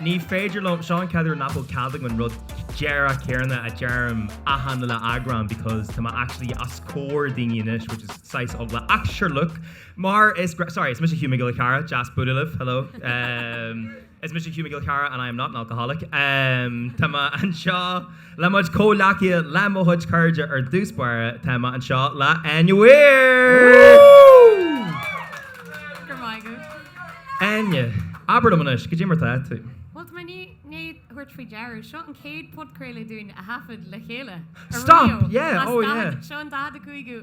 Ní féidir liom, seo an chéad uair nach bhfuil cead agam an rud díreach céanna a deirim achan uile eagrán because tá mé actually os comhair daoine anois which is saghas eagla ach sure look mar is, sorry, is mise Hugh Mac Giolla Cheara, deas bualadh libh, hello em is mise Hugh Mac Giolla Cheara and I am not an alcoholic em tá mé anseo Le mo chuid comhghleacaithe le mo chuid cairde ar dtús báire, tá mé anseo le Áine! Abair liom anois, goidé mar atá tú? Bhuel, tá mé i ndiaidh tabhairt faoi deara, seo an chéad podchraoladh dúinn a thaifead le chéile, ariamh, Stop! Yeah, as oh yeah. daichead, seo an 45ú.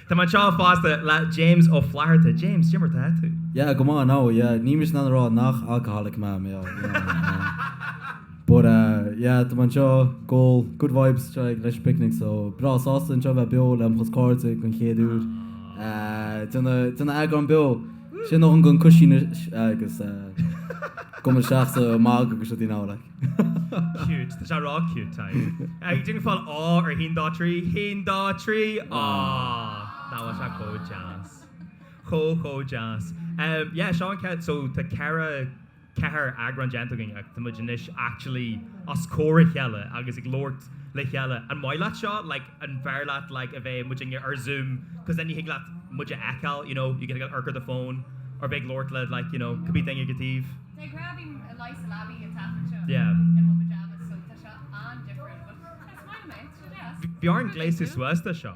Tá mé anseo fosta le James Ó Flatharta. James, goidé mar atá tú? Yeah, go maith, no, yeah, níl mise in ann a rá nach alcoholic mé, you know, but eh, yeah, tá mé anseo, goal, good vibes, seo ag Electric Picnic, so breá sásta anseo bheith beo le mo chuid cairde den chéad uair, eh, déanamh, déanamh eagrán beo, sin nó an gon coisín is, agus eh, gombail isteach sa mag agus seo dtí'n am, like. Cute. Tá sé ró-cute, Tadhg. Déanfaidh fáil A ar haon dó trí, haon dó trí. Aww. Tá sé chomh deas. Chomh, chomh deas. Umm yeah, seo an chéad, so tá ceithre, ceathair eagrán déanta againn ach tá muid anois actually os comhair a chéile agus ag labhairt le chéile. An maith leat seo? Like an bhfearr leat like a bheith muidinne ar Zoom cos then ní thig leat muid a fheiceáil, you know, you get to get a look at the phone, or bheith ag labhairt le like, you know, cibé daoine ag an taobh? Bhí orm gléasadh suas dó seo.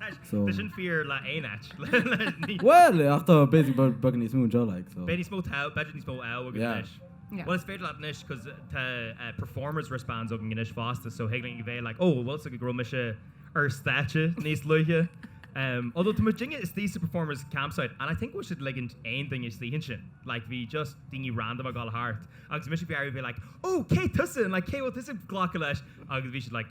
Tá sin fíor le haon áit. Bhuel, ach tá basic beagán níos mó anseo like so. Beidh níos mó clout, b'fhéidir níos mó clout againn anois. Yeah. Well is féidir leat anois cos tá performers wristbands againn anois fosta so thig linn bheith like oh bhfuil 's go raibh mise ar stáitse níos luaithe. Although tá muidinne istigh sa performers campsite and I think bhfuil siad ag ligint aon duine istigh ansin. Like bhí just daoine random ag dul thart agus mise ag iarraidh a bheith like oh cé tusa and like cé a bhfuil tusa ag glacadh leis agus bhí siad like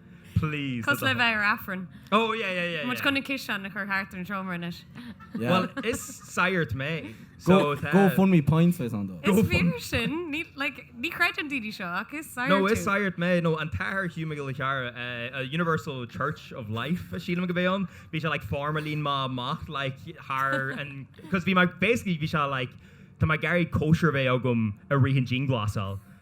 Please. Cosúil le bheith ar Aifreann. Oh yeah yeah yeah. Muid chun an ciseán a chur thart ar an seomra anois. Well is sagart mé so tá. Go fund me points bheas ann dó. Is fíor sin, ní like ní chreideann daoine seo ach is sagart tú. No is sagart mé, no an t-athair Hugh Mac Giolla Cheara eh, Universal Church of Life a sílim go bhféadh ann, bhí sé like foirm a líon mé amach like thar an cos bhí mé basically bhí sé like tá mé ag iarraidh cóisir a bheith agam i rith an dianghlasáil.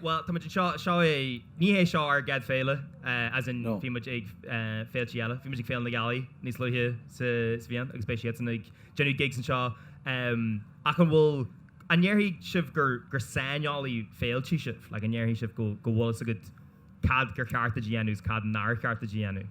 Bhuel, tá muid anseo, seo é, ní hé seo ár gcéad féile, as in bhí muid ag féiltí eile, bhí muid ag Féile na Gealaí níos luaithe sa bhliain agus beidh siadsan ag déanamh gigs anseo ach an bhfuil, an ndéarfaidh sibh gur saineolaí féiltí sibh, like an ndéarfaidh sibh go bhfuil a fhios agat cad gur cheart duit a dhéanamh is cad nár cheart duit a dhéanamh?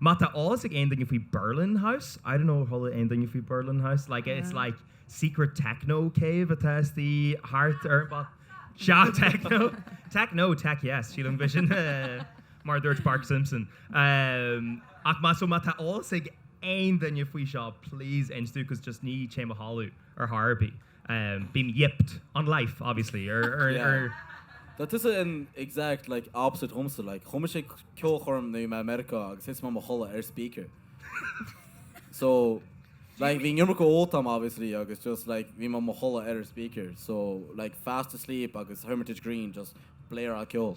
Má tá eolas ag aon duine faoi Berlin House, I don't know, chuala aon duine faoi Berlin House? Like, it's like secret techno cave atá istigh thart ar an bpop. Sea, techno! Tech no, tech yes, sílim gurb é sin mar a dúirt Bart Simpson. Ach má so má tá eolas ag aon duine faoi seo, please inis dom, cos just ní théim a chodladh ar chor ar bith. bím yipped on life obviously ar ar. Tá tusa an exact like opposite dhomsa like chuaigh mise ceolchoirm in America agus thit mé mo chodladh ar speaker so like bhí an iomarca ólta agam obviously agus just like bhí mé mo chodladh ar an speaker so like fast asleep agus Hermitage Green just blaring ceol.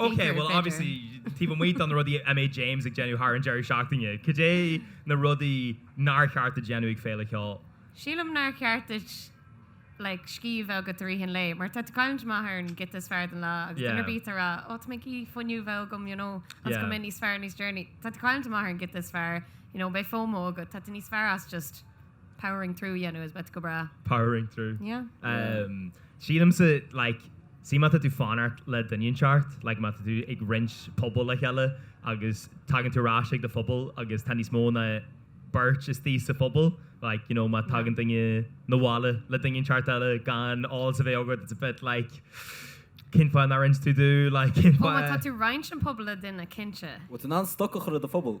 Ok, bhuel, obviously, taobh amuigh de na rudaí a mbeidh James ag déanamh thar an deireadh seachtaine, cad é na rudaí nár cheart duit a dhéanamh ag féile cheoil? Sílim nár cheart duit like scíth a bheith agat i rith an lae mar tá tú cailliúint amach ar an giota is fearr den lá agus duine ar Yeah. bith ag rá oh tá mé ag iarraidh fuinneamh a bheith agam you know agus Yeah. go mbeidh níos fearr níos deireanaí tá tú cailliúint amach ar an giota is fearr you know beidh fomo agat tá tú níos fearr as just Powering through a dhéanamh is beidh tú go breá. Powering through. Yeah. Sílimse, like, sea, má tá tú ag fanacht le duine inteacht, like, má tá tú ag roinnt puball le chéile agus tagann tú ar ais chuig do phuball agus tá níos mó ná beirt istigh sa phuball, like, you know, má thagann duine chun an bhaile le duine inteacht eile gan eolas a bheith agat, it's a bit like, cén fáth nár inis tú dom, like, cén fáth? Ó, má tá tú roinnt an puball le duine, cinnte. Bhuel, tú in ann stoca a chur ar do phuball.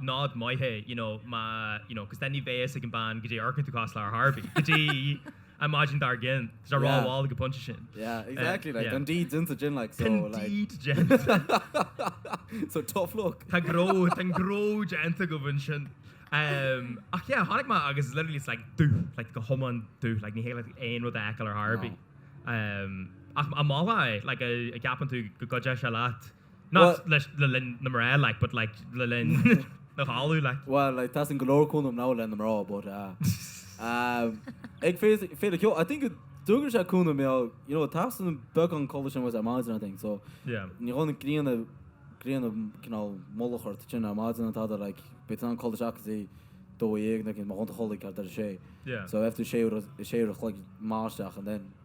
nod maith é you know má you know cos then ní bheidh a fhios ag an bean goidé a amharcann tú cosúil ar chor ar bith go dtí an maidin dár gcionn tá sé yeah rómhall ag an pointe sin yeah exactly like yeah an deed déanta againn like so Don like deeds gen so tough luck tá gnó tá an gnó déanta agaibh ansin um, ach yeah tháinig mé agus literally it's like dubh like go hiomlán dubh like ní thig leat aon rud a fheiceáil ar chor ar bith um, ach a máha like a, an gceapann tú go gcuideodh sé leat Not leis, le linn na mná like, but like le linn na dhála like. Well, like teastaíonn go leor cúnamh now leis na mná but ag féile ceoil, I think go dtugann sé cúnamh bheo, you know teastaíonn beagán codladh sin was ar maidin I think so ní dhána grianna, grianna cineál mullach ort sin ar maidin an t-adar like beidh tú in ann codladh isteach go dtí a dó dhéag nó mar dhónta chodladh ceart ar a sé so bheifear tú a sé uair, a sé uair a chloig maith isteach and then.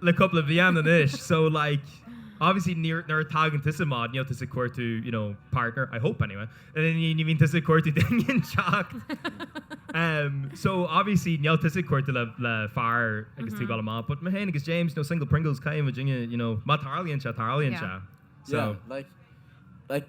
le cúpla bliain anois so like obviously nuair a tagann tusa amach níl tusa ag cuartú you know partner I hope anyway ní ní bhíonn tusa ag cuartú duine inteacht em so obviously níl tusa ag cuartú le le fear agus tú ag dul amach but mé féin agus James na single Pringles caithfidh muid inniu you know má tarlaíonn sé tarlaíonn sé yeah so like like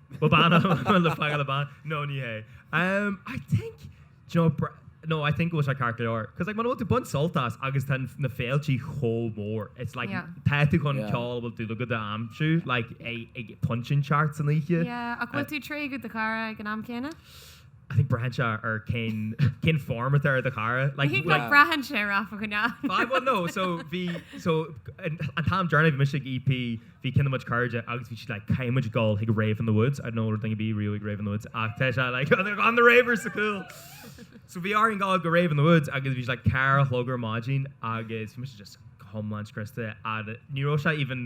Bhuel, bean, bhuel, bean le feiceáil, bean. No, ní hé. Em, I think, d'you know, br- no, I think go bhfuil sé ceart go leor. 'Cause like, muna bhfuil tú ag baint sult as agus tá an- na féiltí chomh mór, it's like, Yeah. tá tú chun Yeah. ceol a bhfuil dúil agat a aimsiú, like, ag- ag pointe inteacht san oíche. Yeah, ach bhfuil tú ag tréigean do chara ag an am céanna? I think braitheann sé ar cén form atá ar do chara I like think like. nach braitheann sé ar aiféala ná Aye well no so bhí so an an t-am deireanach a bhí mise ag EP bhí cineál muid cairde agus bhí siad like caithfidh muid dhul chuig rave in the woods I don't know rud éigin bíodh riamh ag rave in the woods ach tá sé like do na ravers so cool so bhí orainn dhul go rave in the woods agus bhí siad like ceithre a chlog ar maidin agus bhí mise just go hiomlán scriosta a ní raibh sé even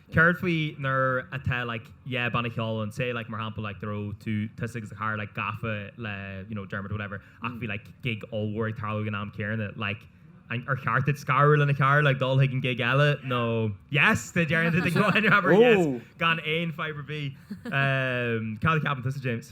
céard faoi nuair atá like yeah banna ceoil ann say like mar shampla like dá raibh tusa agus do chara like gafa le you know Dermot or whatever ach bhí like gig ollmhór ag tarlú ag an am céanna like an ar cheart duit scaradh le do chara like dul chuig an gig eile nó yes they deireann tú go ahead and have her yes oh gan aon fadhb ar bith cad a cheapann tusa James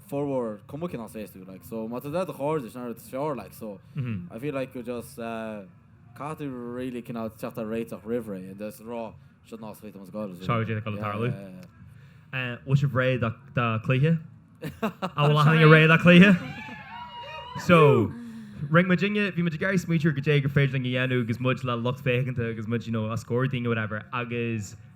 formhór cuma cinn as fés tú like so má tá dea do chairde sin is feárr like so I feel like go just caithfidh tú really cineál teacht ar réiteach roimh ré and just rá seo ná scaoiltear mo scoil is Seo atá le tarlú. yeah. Bhfuil sibh réidh do do cluiche? An bhfuil achan duine réidh do cluiche? So rinn muid inniu bhí muid ag iarraidh smaoitiú goidé gur féidir linn a dhéanamh agus muid le lucht féachana agus muid you know os comhair daoine whatever agus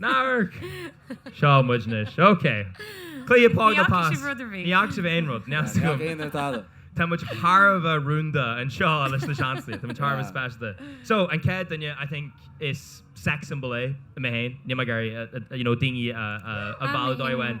Ná hamharc! Seo muid anois. OK. Cluiche póg nó pass? Ní fhaca sibh aon rud. Now. Tá muid thar a bheith rúnda anseo leis na seansanna. Tá muid thar a bheith speisialta. So, an chéad duine, I think, is sex symbol é é féin. Níl mé ag iarraidh, uh, uh, you know, daoine a, a, a mhilleadh dóibh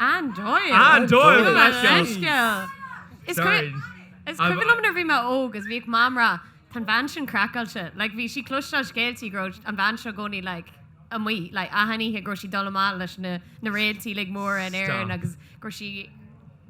Anne Doyle! Anne Doyle! Gabh mo leithscéal! Is cuimhin liom nuair a bhí mé óg is bhíodh Mam ag rá tá an bhean sin craiceáilte. Like bhí sí ag cloisteáil scéalta go raibh an bhean seo i gcónaí like amuigh like achan oíche go raibh sí ag dul amach leis na réaltaí like móra in Éirinn agus go raibh sí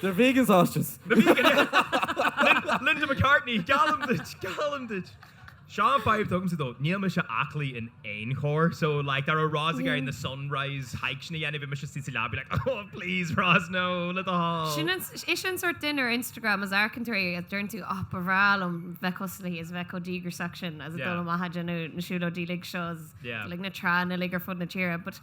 They're vegan sausages. Na vegan, yeah! Linda McCartney, geallaim duit, geallaim duit! Sé an fhadhb atá agamsa though, níl mise aclaí in aon chor, so like dá raibh Roz ag iarraidh na sunrise hikes sin a dhéanamh bhí mise suas sa leaba being like oh please Roz no, le do thoil! Is í an sórt duine ar Instagram is amharcann tú uirthi is deireann tú oh ba bhreá liom bheith cosúil léi is a bheith chomh díograiseach sin is ag dul amach ag déanamh na siúlóidí uilig seo is like na tránna uilig ar fud na tíre but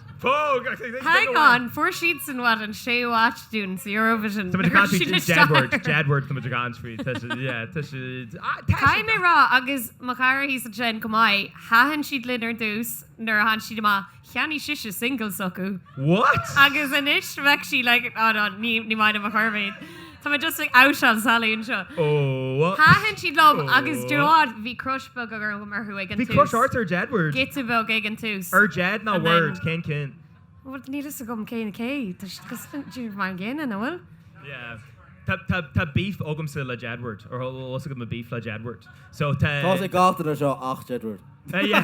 Hang on, fuair siad san what an 6 watch dúinn sa Eurovision nuair a bhí siad ag stair. Jedward tá muid ag an scríobh tá siad yeah tá siad Caithfidh mé a rá agus mo chara thíos ansin chomh maith thaitin siad linn ar dtús nuair a tháinig siad amach cheannaigh sise single s'acu What? agus anois bheadh sí like oh no ní ní maith liom ar chor ar bith iad. Tá mé just ag outáil Sally anseo. Oh. Thaitin siad liom agus do bhád bhí crush beag orm orthu ag an tús. Bhí crush ort ar Jedward. Giota beag ag an tús. Ar Jed ná Ward? Cén ceann? Bhuel níl fhios agam cé acu cé. Tá siad cosúil le mar an gcéanna, an bhfuil? Yeah. Tá tá tá beef agamsa le Jedward. Or níos mó agam beef le Jedward. So tá. Tá sé gach duine anseo ach Jedward. Yeah.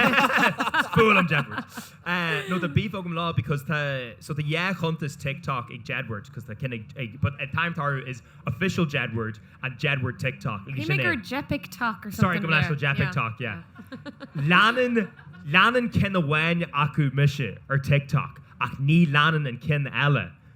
Fuath liom Jedward. nó tá beef agam leo because tá so tá dhá chuntas TikTok ag Jedward because tá ceann ag ag but at time there is official Jedward and Jedward TikTok like Bhí sin mé é gur Jepiktok or sorry go something mé leis there. le Yeah, JepikTok yeah yeah. leanann leanann ceann amháin acu mise ar TikTok ach ní leanann an ceann eile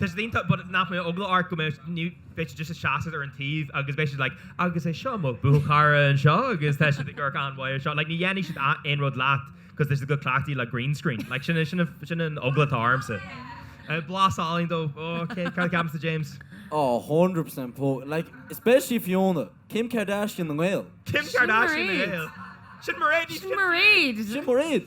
Tá siad iontach but nach mbeadh eagla ort go mbeadh ní bheadh siad just ag seasamh ar an taobh agus bheadh siad like agus seo mo mo chara anseo agus tá siad ag amharc an-mhaith ar seo like ní dhéanfaidh siad aon rud leat cause tá siad chomh cleachtaithe le green screen like sin sin an sin an eagla atá ormsa. Eh, Blas álainn though OK cad a cheapann tusa James? Ó 100% póg like especially Fiona Kim Kardashian na nGael. Kim Kardashian na nGael. Sin Mairéad, ní Sin Mairéad. Sin Mairéad.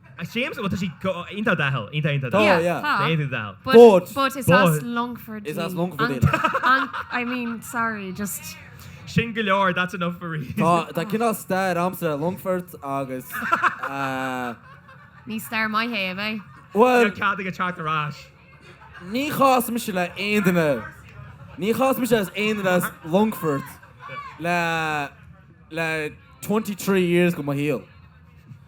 Seamus, bhuel tá sí go iontach doicheall, iontach iontach Tá, doicheall. yeah. Tá. Tá iontach doicheall. But. But is as But. Longfort Is as í. Longfort í, like. An, I mean, sorry, just. Sin go leor, that's enough for me. Tá, tá cineál stair agamsa le Longfort agus eh, Ní stair maith é, eh? bhuel, Níl cead agam teacht ar ais. níor chas mise le aon duine, níor chas mise as aon duine as Longfort le, le twenty three years de mo shaol.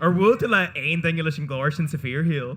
Ar bhuail tú le haon duine leis an ghlór sin sa bhfíorshaol?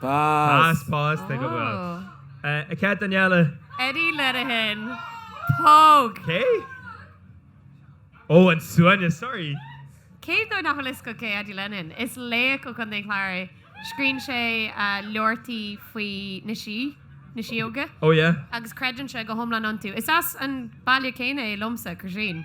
Pas! Pas! Take a bow. A cat Daniela. Eddie Lenihan. Póg! Cé? Oh, an seanchaí, sorry. Cé daoibh nach bhfuil fhios agaibh cé Eddie Lenihan? Is laoch ó Chontae an Chláir é. Scríobhann sé leabhartaí faoi na sí, na síóga. Oh yeah. Agus creideann sé go hiomlán iontu. Is as an baile céanna é liomsa, Croisín.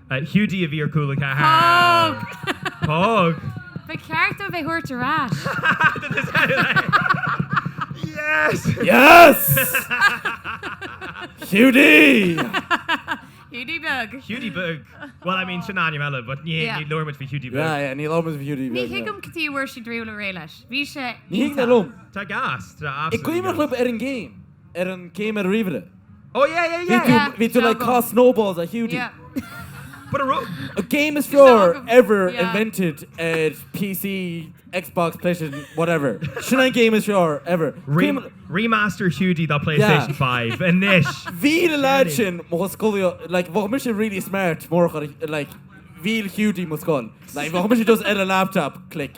Hiúdaí a bhí ar Chúla Ceathair. Póg! Póg! Ba cheart dóibh é thabhairt ar ais. Yes! Yes! Hiúdaí! Hiúdaí beag! Hiúdaí beag! Bhuel, I mean, sin ainm eile, but ní Yeah. ní labhair muid faoi Hiúdaí beag. Yeah, yeah, ní labhair muid faoi Hiúdaí Ní beag. yeah. thuigim cad chuige a bhfuair siad riamh réidh leis. Bhí sé Ní thuig mé iontach. liom. Tá gas, tá an absolutely gcuimhneach gas. libh ar an game. ar an game ar an ríomhaire. Oh yeah yeah yeah yeah Bhí tú like ag caitheamh snowballs ar Hiúdaí. Yeah But a ro- An game is fearr ever invented ar PC, Xbox, PlayStation, whatever. Sin an game is fearr ever. Re- remaster Hiúdaí do PlayStation 5 anois! Mhill an leaid sin mo sho- scolaíocht like bheadh mise really smart murach like mhill Hiúdaí mo scoil. Like bheadh mise just ar an laptop, click.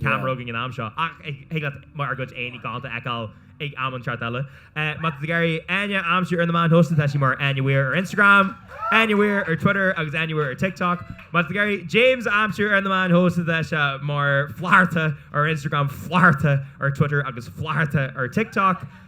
ceamara againn an t-am seo, ach thig leat ár gcuid aghaidheanna galánta a fheiceáil ag am inteacht eile. Má tá tú ag iarraidh Áine a aimsiú ar na meáin shóisialta tá sí mar Áine Weir ar Instagram, Áine Weir ar Twitter agus Áine Weir ar TikTok. Má tá tú ag iarraidh James a aimsiú ar na meáin shóisialta tá sé mar Flatharta ar Instagram, Flatharta ar Twitter agus Flatharta ar TikTok.